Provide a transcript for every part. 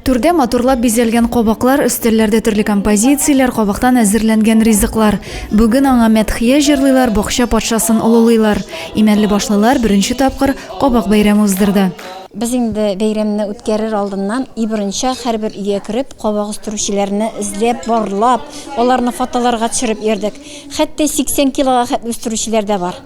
Түрдә матурлап бизәлгән кабаклар, өстәлләрдә төрле композицияләр, кабактан әзерләнгән ризыклар. Бүген аңа мәдхия җырлыйлар, бакча патшасын олылыйлар. Имәнлебашлылар беренче тапкыр кабак бәйрәме уздырды. Без инде бәйрәмне үткәрер алдыннан ибрынча һәрбер өйгә кереп, кабак үстерүчеләрне эзләп, барлап, аларны фотоларга төшереп йөрдек. Хәтта 80 килога хәтле үстерүчеләр дә бар.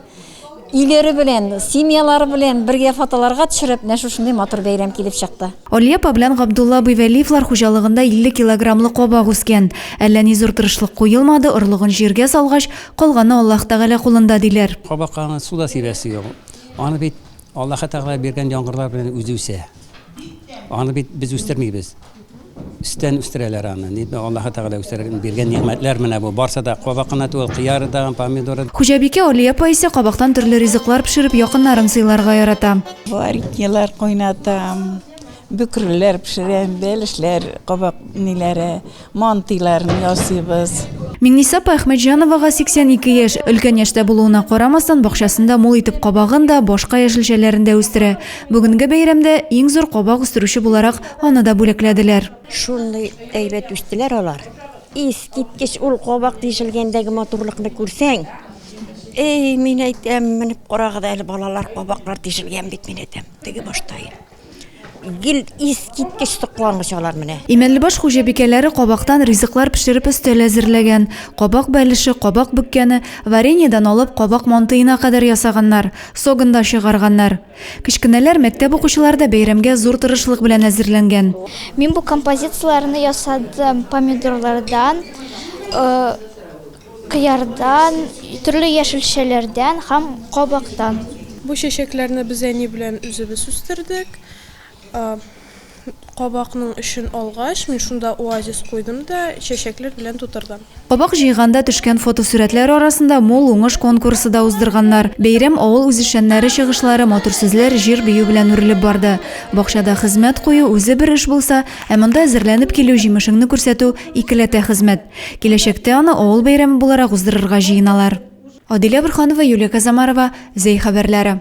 Өйләре белән, семьялары белән бергә фотоларга төшереп, менә шушындый матур бәйрәм килеп чыкты. Алия апа белән Габдулла абый Вәлиевлар хуҗалыгында 50 килограммлы кабак үскән. Әллә ни зур тырышлык куелмады, орлыгын җиргә салгач, калганы Аллаһ Тәгалә кулында, диләр. Кабакка аны су да сибәсе юк. Аны бит Аллаһы Тәгалә биргән яңгырлар белән үзе үсә. Аны бит без үстермибез. Үстән үстерәләр аны. Ник бу Аллаһ Тәгалә үстерергә биргән нигъмәтләр менә бу. Барса да кабак кына түгел, кыяры да, помидоры. Хуҗабикә Алия апа исә кабактан төрле ризыклар пешереп якыннарын сыйларга ярата. Вареньелар кайнатам, бөкреләр пешерәм, бәлешләр, кабак ниләре, Мантыйларны ясыйбыз. Миңниса апа Әхмәтҗановага 82 яшь. Өлкән яшьтә булуына карамастан, бакчасында мул итеп кабагын да, башка яшелчәләрен дә үстерә. Бүгенге бәйрәмдә иң зур кабак үстерүче буларак аны да бүләкләделәр. Шундый әйбәт үстеләр алар. Искиткеч ул кабак тишелгәндәге матурлыкны күрсәң, әй, мин әйтәм, менеп карагыз әле, балалар, кабаклар тишелгән бит, мин әйтәм, теге башта. Гел искиткеч соклангыч алар менә. Имәнлебаш хуҗабикәләре кабактан ризыклар пешереп өстәл әзерләгән. Кабак бәлеше, кабак бөккәне, вареньедан алып кабак мантыена кадәр ясаганнар, согын да чыгарганнар. Кечкенәләр, мәктәп укучылары да бәйрәмгә зур тырышлык белән әзерләнгән. Мин бу композицияләрне ясадым помидорлардан. Кыярдан, төрле яшелчәләрдән һәм кабактан. Бу чәчәкләрне без әни белән үзебез үстердек. Кабакның эчен алгач, мин шунда оазис куйдым да, чәчәкләр белән тутырдым. Кабак җыйганда төшкән фотосурәтләр арасында Мул уңыш конкурсы да уздырганнар. Бәйрәм авыл үзешчәннәре чыгышлары, матур сүзләр, җыр-бию белән үрелеп барды. Бакчада хезмәт кую, үзе бер эш булса, ә монда әзерләнеп килү, җимешеңне күрсәтү, икеләтә хезмәт. Киләчәктә аны авыл бәйрәме буларак уздырырга җыеналар. Адилә Борханова, Юлия Казамарова, Зәй хәбәрләре.